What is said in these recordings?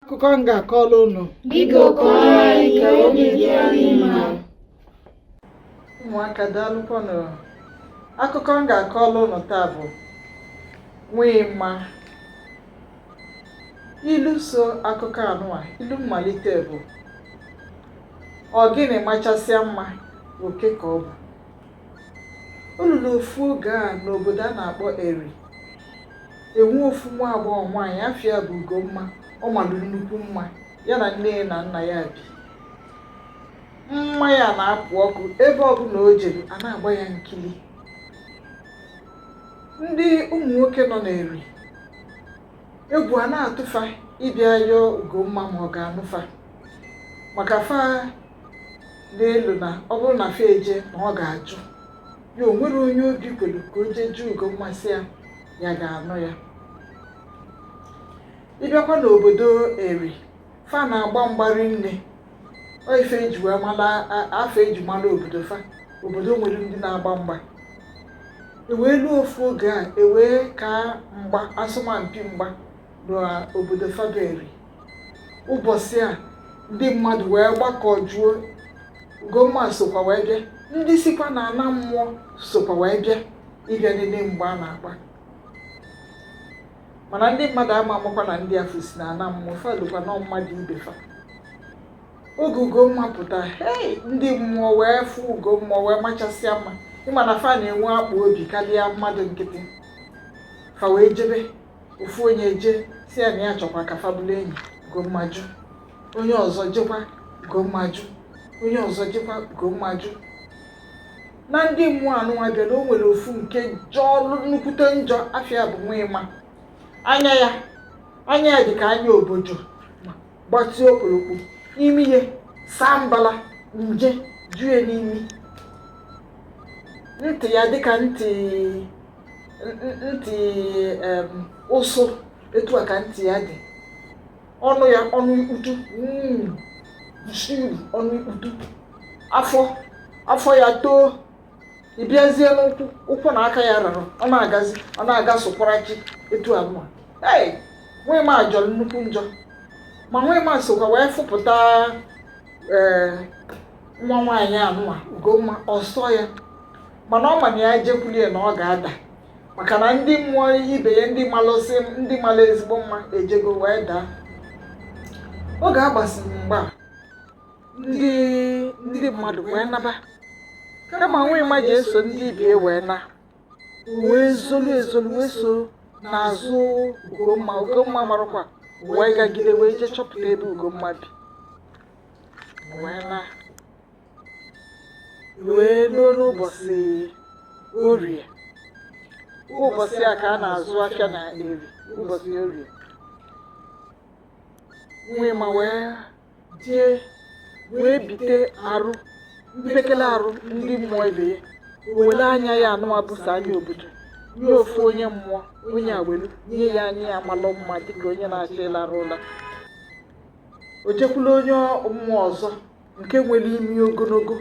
akụkọ m ga-akọrọ unu Biko kọọ anyị ka obi dị anyị mma. ụmụaka daalụkwanụ akụkọ m ga-akọrọ unu taa bụ Nwaịma ilu so akụkọ anụwa ilu mmalite bụ ọgịnị machasịa mma oke ka ọ bụ O ruru ofu oge a n'obodo a na-akpọ Eri, e nwee ofu nwa agbọghọ nwaanyị afa ya bụ Ugomma ọ malụ nnukwu mma, ya na nne ya na nna ya bi. Mma ya na-apụ ọkụ ebe ọbụna o jere a na-agba ya nkili. Ndị ụmụ nwoke nọ n'Eri, egwu a na-atụ fa ịbịa yọọ Ugomma ma ọ ga-anụ fa maka fa na-elo na ọ bụrụ na fa eje na ọ ga-ajụ ya o nwerọ onye obi kwelu ka o jee jụọ Ugomma sị ya ya ga-anụ ya ị bịakwa n'obodo eri fa na-agba mgba rinne ọ ife eji wee mala a- ife eji mala obodo fa obodo nwere ndị na-agba mgba ewee luo ofu oge a ewee kaa mgba asọmpi mgba n'obodo fa bụ Eri ụbọsị a ndị mmadụ wee gbakọjuo Ugomma sokwa wee bịa ndị sikwa na ana mmụọ sokwa wee bịa ịbịa nene mgba a na-agba mana ndị mmadụ ama amakwa na ndị afụ si na ana mmụọ fa elokwa na ọ mmadụ ibe fa oge Ugomma pụta hei ndị mmụọ wee fụ Ugomma wee machasịa mma ị ma na fa na-enwe akpụ obi kalịa mmadụ nkịtị fa wee jebe ofu onye eje sị ya na ya chọkwa ka fa bụlụ enyi Ugomma ajụ onye ọzọ jekwa Ugomma ajụ onye ọzọ jekwa Ugomma ajụ na ndị mmụọ anụnwa bịara o nwere ofu nke jọlụ nnukwute njọ afa ya bụ Nwaịma anya ya anya ya dị ka anya obodo gbatịa okpolokpo imi ya saa mbala nje jue n'imi ntị ya dịka ntị ntị ụsụ etu a ka ntị ya dị ọnụ ya ọnụ ikputu hmm, ọnụ ikputu afọ afọ ya too ị bịazie n'ụkwụ ụkwụ na aka ya rara ọ na-agazi ọ na-aga sokwara chi etu anụwa ee Nwaịma jọlụ nnukwu njọ ma Nwaịma sokwa wee fụpụta ee eh, nwa nwaanyị anụwa ugomma ọ sọ ya mana ọ ma na ya jekwulu ya na ọ ga-ada maka na ndị mmụọ ibe ya ndị malụsị ndị malụ ezigbo mma ejego wee daa oge a gbasịrị mgba ndị ndị mmadụ wee naba kama nwa ịma ji eso ndị ibe ya wee na wee zolu ezolu wee so n'azụ ugomma ugomma amarọkwa wee gagide wee jee chọpụta ebe ugomma bi wee na wee ruo n'ụbọchị orie ụbọchị a ka a na-azụ afịa na eri ụbọchị orie nwa ịma wee jee wee bite arụ mpekele arụ ndị mmụọ ibe ya were anya ya anụwa bụ sọ anya obodo nye ofu onye mmụọ onye a welu nye ya anya ya malụ mma dịka onye na-achọ ịlarụ ụla o jekwulu onye mmụọ ọzọ nke nwere imi ogologo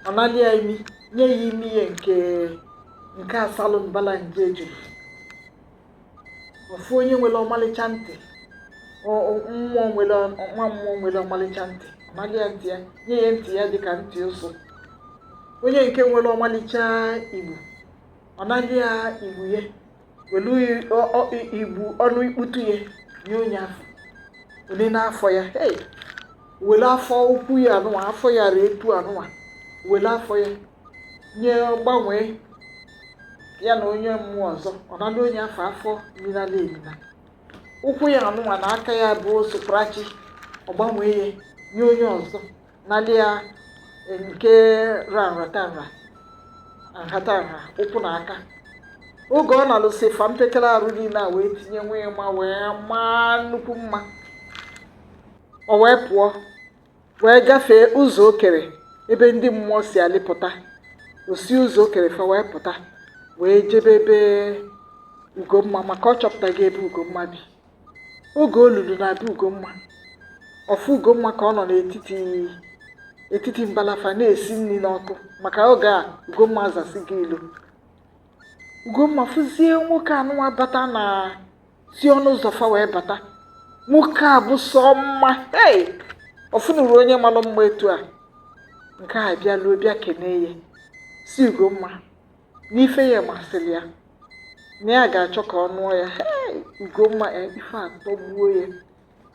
ọ nalị ya imi nye ya imi ya nke nke asalụ mbala nje ejuru ofu onye nwere ọmalịcha ntị ọ- ọ- mmụọ nwere ọ- nwa mmụọ nwere ọmalịcha ntị ọ nalị ya ntị ya nye ya ntị ya dịka ntị ụsụ onye nke nwere ọmalịcha igbu ọ nalị ya igbu ya o welu igbu ọnụ ikputu ya nye onye afụ o nenee afọ ya hey were afọ ukwu ya anụwa afọ ya ra etu anụwa were afọ ya nye gbanwee ya na onye mmụọ ọzọ ọ nala onye afụ afọ minala emina ụkwụ ya anụwa na aka ya bụ soprachi ọ gbanwee ya nye onye ọzọ nalị ya nke ra nhatanha nhatanha ụkwụ na aka oge ọ nalụsị fa mpekere arụ niile a wee tinye nwa ịma wee maa nnukwu mma o wee pụọ wee gafee ụzọ okere ebe ndị mmụọ si alịpụta o si ụzọ okere fa wee pụta wee jebe ebe ugomma maka ọ chọpụtago ebe ugomma bi oge o lulu na be Ugomma ọ fụ Ugomma ka ọ nọ n'etiti etiti mbala fa na-esi nri n'ọkụ maka oge a Ugomma zasịgo ilo Ugomma fụzie nwoke anụwa bata na si ọnụ ụzọ fa wee bata nwoke a bụ sọ mma ei ọ fụnurọ onye malụ mma etu a nke a bịaluo bịa kenee ya sị Ugomma n'ife ya masịrị ya na ya ga-achọ ka ọ nụọ ya Ugomma e, ife atọgbuo ya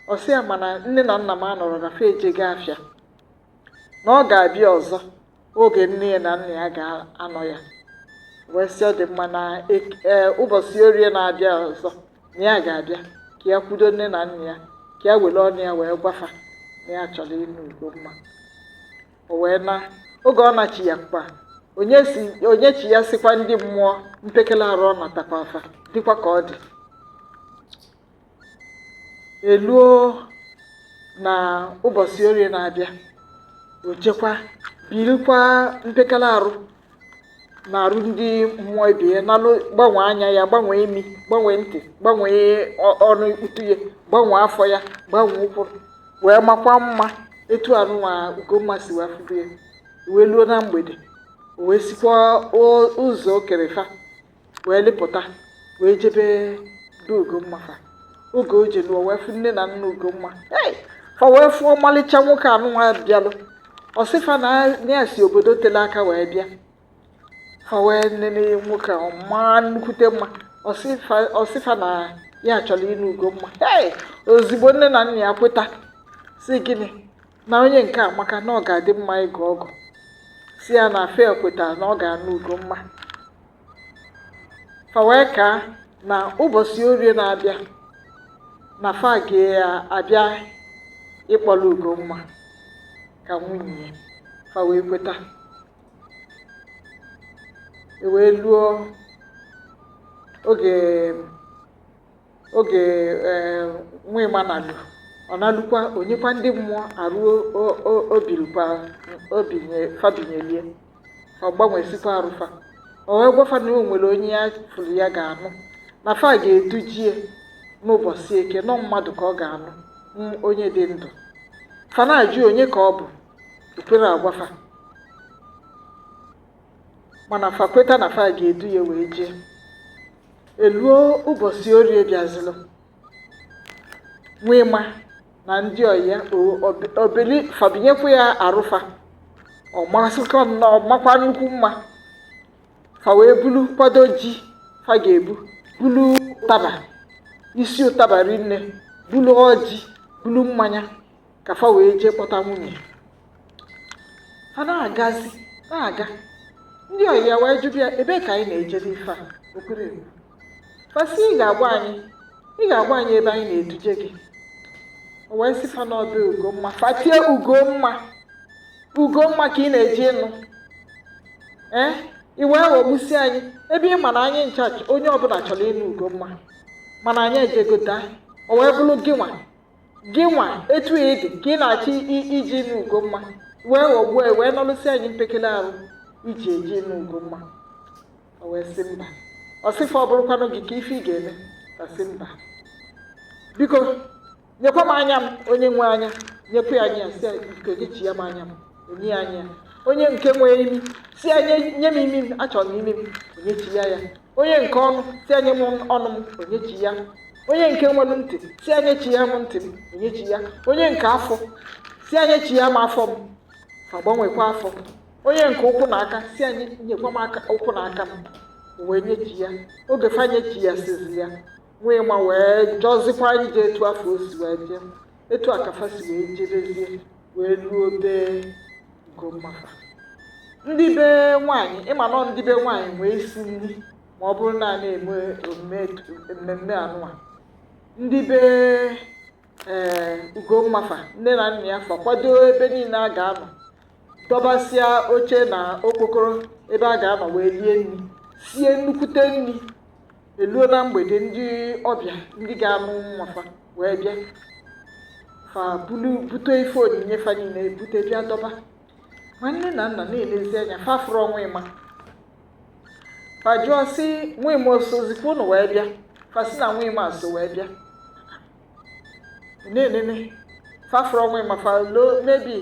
ọ sị ya mana nne na nna m anọrọ na fa ejego afịa na ọ ga-abịa ọzọ oge nne ya na nna ya ga-anọ ya wee sị ọ dị mma na e, e, ụbọchị orie na-abịa ọzọ na ya ga-abịa ka ya kwudo nne na nna ya ka ya were ọnụ ya wee gwafa na ya chọrọ ịnụ Ugomma o wee na oge ọ nachiyakwa o nyesi o nyechiyasịkwa ndị mmụọ mpekele arụ ọ natakwa fa dịkwa ka ọ dị eluo na ụbọchị orie na-abịa o jekwa birikwa mpekele arụ na arụ ndị mmụọ ibe ya nalụ gbanwee anya ya gbanwee imi gbanwee ntị gbanwee ọ- ọnụ ikputu ya gbanwee afọ ya gbanwee ụkwụ wee makwa mma etu anụnwa ugomma si wee fụbụ ya wee luo na mgbede o wee sikwa o- ụzọ o kere fa wee lịpụta wee jebe be Ugomma fa oge o jeluo wee fụ nne na nna Ugomma hey! fa wee fụ ọmalịcha nwoke anụnwa bịalụ ọ sị fa na ya si obodo tele aka wee bịa fa wee nene nwoke a ọ maa nnukwute mma ọ sị fa na ya chọrọ ịnụ Ugomma hey! ozigbo nne na nna ya kweta sị gịnị na onye nke amaka na ọ ga-adị mma ịgọ ọgọ sị ya na fa kwetara na ọ ga-anụ Ugomma fa wee kaa na ụbọchị orie na-abịa na fa ga-abịa ịkpọlụ Ugomma ka nwunye ya fa wee kweta e wee luo oge oge eh, nwa ịma nalụ ọ nalụkwa o nyekwa ndị mmụọ arụ o- o- o bilikwa o binye fa binyeli ya ọ gbanwesikwa arụ fa o wee gwa fa na o nwere onye ya fụrụ ya ga-anụ na fa ga-eduje ya n'ụbọchị eke na ọ mmadụ ka ọ ga-anụ m- onye dị ndụ fa na-ajụ onye ka ọ bụ o kwerọ agwa fa mana fa kweta na fa ga-edu ya wee jee eluo ụbọchị orie bịazịlụ nwa ịma na ndị ọyị ya o bili fa binyekwa ya arụ fa ọ masịkwa nnọọ makwa nnukwu mma fa wee bulu kwado ji fa ga-ebu bulu ụtaba isi ụtaba rinne bulu ọjị bulu mmanya ka fa wee jee kpọta nwunye a na-agazi na-aga ndị ọyị ya wee jụba ya ebee ka anyị na-eje n'ife a o kwerọ ikwu fa sị ị ga-agwa anyị ị ga-agwa anyị ebe anyị na-eduje gị o wee sị fa n'ọ be ugomma fa tie ugomma ugomma ka ị na-eje ịnụ ee eh? ị wee ghọgbusi anyị ebe ị ma na anyị ncha onye ọbụla chọrọ ịnụ ugomma mana anyị ejegota o wee bụrụ gị nwa gị nwa etu ị dị ka ị na-achọ iji ime Ugomma wee ghọgbuo ya wee nọlụsị anyị mpekele arụ ị ji eje ịnụ Ugomma o wee sị mba ọ sị fa ọ bụrụkwanụ gị kee ife ị ga-eme ọ sị mba biko nyekwa m anya m onye nwe anya nyekwa ya anya sị nyechiya m anya m o nye ya anya onye nke nwee imi sị ya nye m imi m achọrọ m imi m o nyechiya ya onye nke ọnụ sị ya nye m ọnụ m o nyechi ya onye nke nwelu ntị sị ya nyechiya m ntị m o nyechi ya onye nke afọ sị ya nyechiya m afọ m fa gbanwekwa afọ onye nke ụkwụ na aka sị ya nyekwa m aka ụkwụ na aka m wee nyechi ya oge fa nyechiyasịzị ya nwa ịma wee jọzikwa ije etu afụ o si wee jee etu a ka fa si wee jebezie wee luo be Ugomma fa ndị be nwaanyị ịma nọ ndị be nwaanyị wee sie nni ma ọ bụrụ na a na-eme omume etu- mmemme anụwa ndị be ee Ugomma fa nne na nna ya fa kwado ebe niile a ga-anọ dọbasịa oche na okpokoro ebe a ga-anọ wee rie nni sie nnukwute nni eluo na mgbede ndị ọbịa ndị ga-anụ nwa fa wee bịa fa bulu bute ife onyinye fa niile bute bịa dọba ma nne na nna na-elezi anya fa afụrọ nwa ịma fa jụọ sị nwa ịma o sozikwa unu wee bịa fa sị na nwa ịma so wee bịa na-enene fa afụrọ nwa ịma fa loo n'obi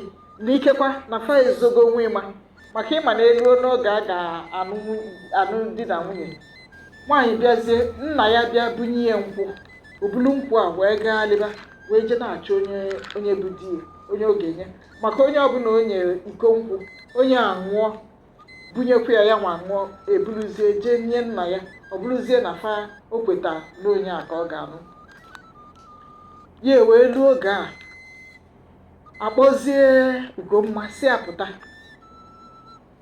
na ikekwa na fa ezogo nwa ịma maka ịma na eluo n'oge a ga-anụ di na nwunye nwaanyị bịazie nna ya bịa bunye ya nkwụ o bulu nkwụ a wee gaalịba wee jee na-achọ onye onye bụ di ya onye ọ ga-enye maka onye ọbụla o nyere iko nkwụ onye a ṅụọ bunyekwa ya ya nwa ṅụọ e buruzie jee nye nna ya ọ bụrụzie na fa o kweta na onye a ka ọ ga-anụ ya e wee luo oge a kpọzie ugomma sị ya pụta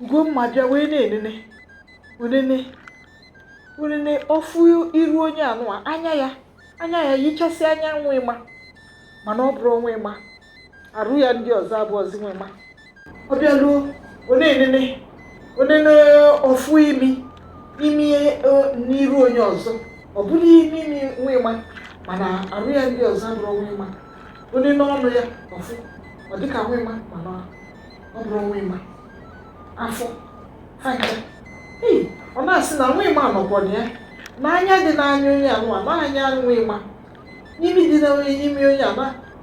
ugomma bịa wee na-enene o nene o nene ọ fụ iru onye anụwa anya ya anya ya yichasị anya nwa ịma mana ọ bụrọ nwa ịma arụ ya ndị ọzọ abụrọzi nwa ịma ọ bịaluo o nene o nene ọ fụ imi imi e, n'iru onye ọzọ ọ bụrụ imi imi nwa ịma mana arụ ya ndị ọzọ abụrọ nwa ịma o nene ọnụ ya ọ fụ ọ dịka nwa ịma mana ọ bụrọ nwa ịma afọ aka ọ na-asị na nwa ịma nọkwa na ya na anya dị n'anya onye anụwa na anya nwa ịma imi dị n'imi onye a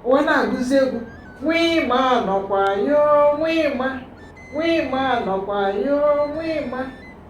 o wee na-agụzi egwu nwa ịma nọkwa yo nwa ịma nwa ịma nọkwa yo nwa ịma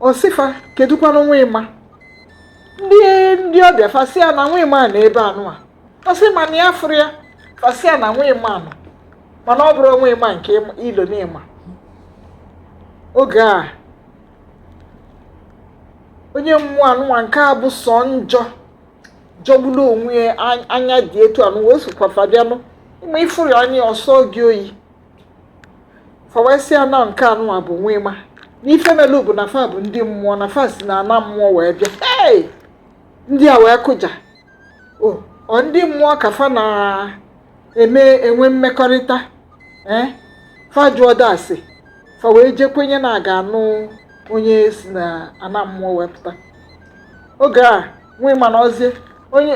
ọ sị fa kedụkwanụ nwa ịma ndị ndị ọbịa fa sị ya na nwa ịma nọ ebe anụnwa ọ sị mana ya afụrọ ya fa sị ya na nwa ịma nọ mana ọ bụrọ nwa ịma nke ị ma- i lo na ị ma oge a onye mmụọ anụnwa nke a bụ sọ njọ jọgburu onwe ya an- anya dị etu anụnwa ọ sịkwa fa bịanụ ị ma ị fụrụ ya anya ọ sọọ gị oyi fa wee sị ya na nke anụnwa bụ nwa ịma n'ife melu bụ na fa bụ ndị mmụọ na fa si na ana mmụọ wee bịa hey! ndị a wee kụja o ọ ndị mmụọ ka fa na-eme enwe mmekọrịta ee fa jụọ dasị fa wee jee kwenye na a ga-anụ onye si na ana mmụọ wee pụta oge a nwa ịma nọzie onye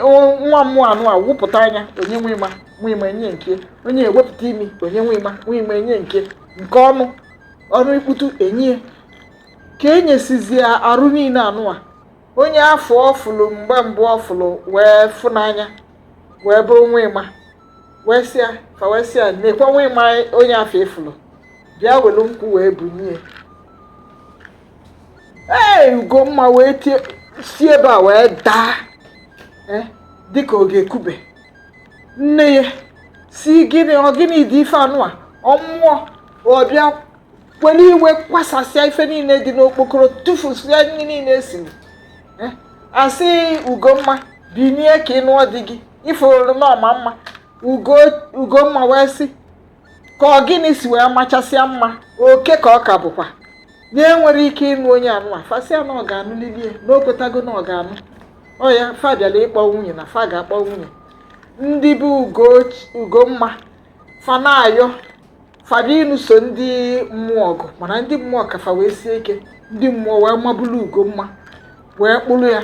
nwa mmụọ anụnwa wepụta anya o nye nwa ịma nwa ịma enye nke onye ewepụta imi o nye nwa ịma nwa ịma enye nke nke ọnụ ọnụ ikputu enye ka e nyesịzịa arụ niile anụnwa onye afụ ọ fụlụ mgbe mbụ ọ fụlụ wee fụ n'anya wee bụrụ nwa ịma wee sị ya fa wee sị ya nekwa nwa ịma onye afụ ị fụlụ bịa welu nkwụ wee bunye ee ugomma wee tie si ebe a wee daa eh, dịka ọ ga-ekube nne ya sị gịnị ọ gịnị dị ife anụnwa ọ mmụọ ọ bịa were iwe kwasasịa ife niile dị n'okpokoro tụfusịa nri niile e siri eh, a sị ugomma binie ka ị nụọ di gị ị fụrụ na ọ ma mma ugomma wee sị ka ọ gịnị si wee machasịa mma oke ka ọ ka bụkwa na ya enwerọ ike ịnụ onye anụnwa fa sị ya na ọ ga-anụlili ya na o kwetago na ọ ga-anụ ọ ya fa bịara ịkpọ nwunye na fa ga-akpọ nwunye ndị be ugomma fa na-ayọ fa bịa ịnụso ndị mmụọ ọgụ mana ndị mmụọ ka fa wee sie ike ndị mmụọ wee mabulu ugomma wee kpụrụ ya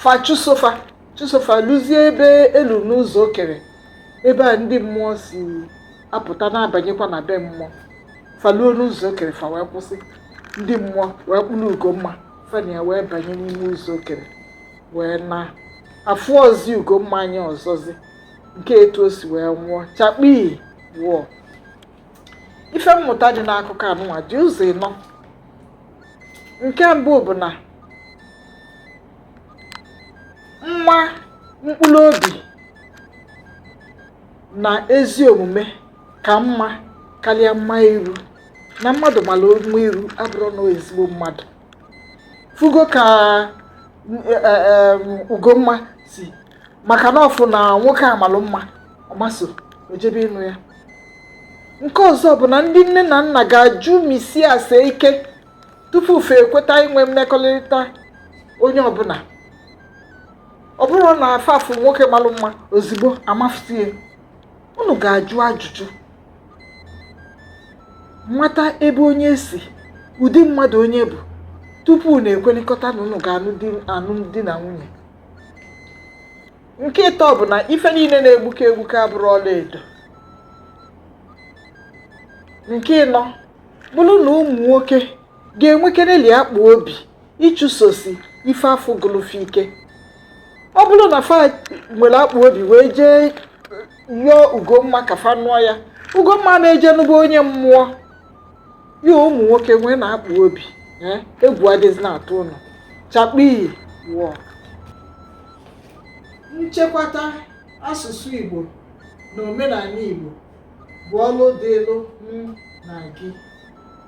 fa chụso fa chụso fa luzie ebe e lu n'ụzọ o kere ebe a ndị mmụọ si apụta na-abanyekwa na be mmụọ fa luo n'ụzọ o kere fa wee kwụsị ndị mmụọ wee kpụrụ ugomma fa na ya wee banye n'ime ụzọ o kere wee naa afụrọzi ugomma anya ọzọzi nke etu o si wee nwụọ chakpii wọọ ife mmụta dị n'akụkọ anụnwa dị ụzọ ịnọ nke mbụ bụ na mma mkpụrụ obi na ezi omume ka mma karịa mma iru na mmadụ mara mma iru abụrọ na ọ ezigbo mmadụ fụgo ka e, e, e, ugomma si maka na ọ fụ na nwoke a malụ mma ọ maa ọsọ o jebe ịnụ ya nke ọzọ bụ na ndị nne na nna ga-ajụmisi ase ike tupu fa ekweta inwe mmekọrịta onye ọbụna ọ bụrọ na fa afụ nwoke malụ mma ozugbo amafusie unu ga-ajụ ajụjụ mata ebe onye si ụdị mmadụ onye bụ tupu unu ekwelịkọta na unu ga-anụ di na nwunye nke ịtọ bụ na ife niile na-egbuke egbuke abụrọ ọla edo nke ịnọ bụrụ na ụmụ nwoke ga-enwekereli akpa obi ịchụsosi ife afụ gụlụ fa ike ọ bụrụ na fa nwere akpa obi wee jee yọọ ugomma ka fa nụọ ya ugomma na-eje n'ụgbọ onye mmụọ ya ụmụ nwoke nweenụ akpa obi eh, egwu adịzịna atụ unu chakpii wọọ nchekwata Asụsụ Igbo na omenanị Igbo bụ ọlụ dịlụ mụ na gị.